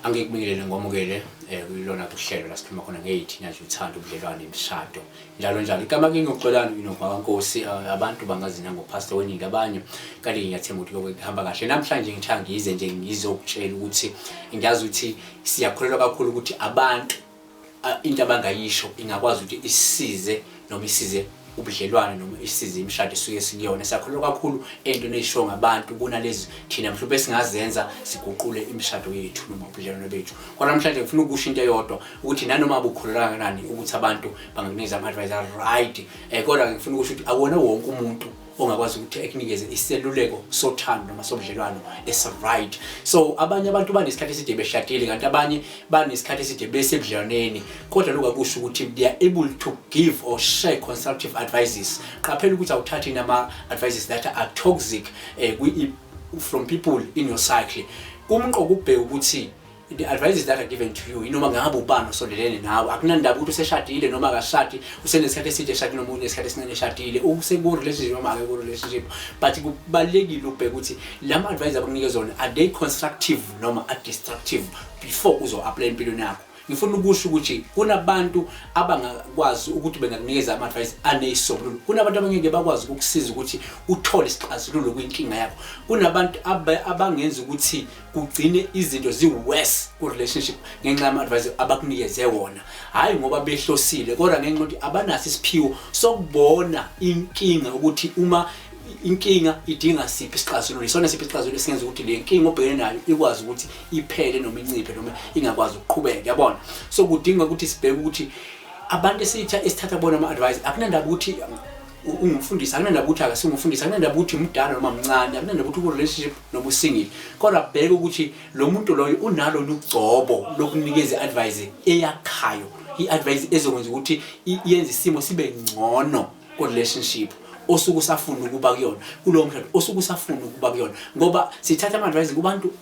Angikubingelele ngomukele eh kulona kuhlelo la sikhuluma khona ngeyithina nje uthanda ubudlelwane imishado njalo njalo igama kimi uxolani inogwaka nkosi abantu bangazina ngo pastor weningi abanye kale ngiyathemba ukuthi lokho kuhamba kahle namhlanje ngithangize nje ngizokutshela ukuthi ngiyazi ukuthi siyakholelwa kakhulu ukuthi abantu into abangayisho ingakwazi ukuthi isize noma isize ubudlelwane noma isize imishado esuke sikuyona sakholwa kakhulu entweni eyishiwo ngabantu kunalezi thina mhlawumbe singazenza siguqule imishado yethu noma ubudlelwane bethu kodwa namhlanje ngifuna ukusho into eyodwa ukuthi nanoma bukholelwa kangakanani ukuthi abantu bangakunikeza ama-advice a-right um eh, kodwa ngifuna ukusho ukuthi akuwona wonke umuntu ongakwazi ukuthi ekunikeze iseluleko sothando noma sobudlelwano esiright so abanye abantu banesikhathi eside beshadile kanti abanye banesikhathi eside besebudlelwaneni kodwa lokhu akusho ukuthi they are able to give or share constructive advices qaphela ukuthi awuthathi nama-advices that are toxic eh, from people in your cycle kumqoka ukubheka ukuthi the advices that are given to you inoma ngabe ubani osondelene nawe akunandaba ukuthi useshadile noma akashadi usenesikhathi eside eshadi noma unesikhathi esincane eshadile useku-relationship noma ake ku-relationship but kubalulekile ubheke ukuthi la ma-advice abakunike zona are they constructive noma are destructive before uzo-aplya empilweni yakho ngifuna ukusho ukuthi kunabantu abangakwazi ukuthi bengakunikeza ama-advice aneyisolulo kunabantu abangeke bakwazi ukukusiza ukuthi uthole isixazululo kwinkinga yakho kunabantu abangenza ukuthi kugcine izinto ziworse ku-relationship ngenxa yama-advise abakunikeze wona hhayi ngoba behlosile kodwa ngenxa yokuthi abanaso isiphiwo sokubona inkinga ukuthi uma inkinga idinga siphi isixazululo isona siphi isixazululo esingenza ukuthi le nkinga obhekene nayo ikwazi ukuthi iphele noma inciphe noma ingakwazi ukuqhubeka yabona so kudinga ukuthi sibheke ukuthi abantu esithatha bona ama-advise akunandaba ukuthi ungumfundisi akunandaba ukuthi akasingumfundisi akunandaba ukuthi mdala noma mncane akunandaba ukuthi ukurelationship noma usingile kodwa bheke ukuthi lo muntu loyo unalo lugcobo lokunikeza i-advise eyakhayo i-advise ezokwenza ukuthi yenze isimo sibe ngcono ku-relationship osuke usafuna ukuba kuyona kulowo mshado osuke usafuna ukuba kuyona ngoba sithatha ama-advise kubantu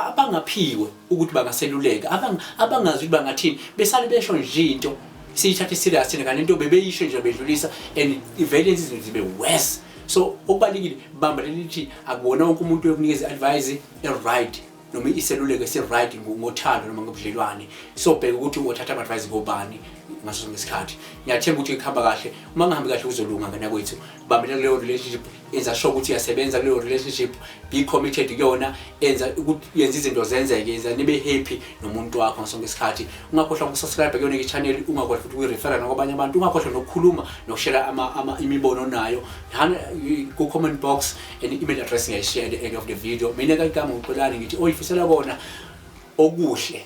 abangaphiwe ukuthi bangaseluleka abangazi ukuthi bangathini besale besho nje into siyithathe serious thina kanti into bebeyisho nje bedlulisa and ivele izinto zibe worse so okubalekile bamba lelithi akubona wonke umuntu yokunikeza advice e-right noma iseluleko esi-right ngothando noma ngobudlelwane so bheka ukuthi uthatha ama-advice kobani ngaso sonke isikhathi ngiyathemba ukuthi kuhamba kahle uma ngihambi kahle uzolunga nganakwethu bambela kuleyo relationship yenza sure ukuthi uyasebenza kuleyo relationship be committed kuyona enza ukuthi yenza izinto zenzeke yenza nibe happy nomuntu wakho ngasonke isikhathi ungakhohlwa ukusubscribe kuyona i-channel ungakhohlwa futhi ukuyirefera nakwabanye abantu ungakhohlwa nokukhuluma nokushela ama, ama imibono onayo ku-comment box and email address ngiyayishiya at the end of the video mina kayigama ngiqolani ngithi oyifisela kona okuhle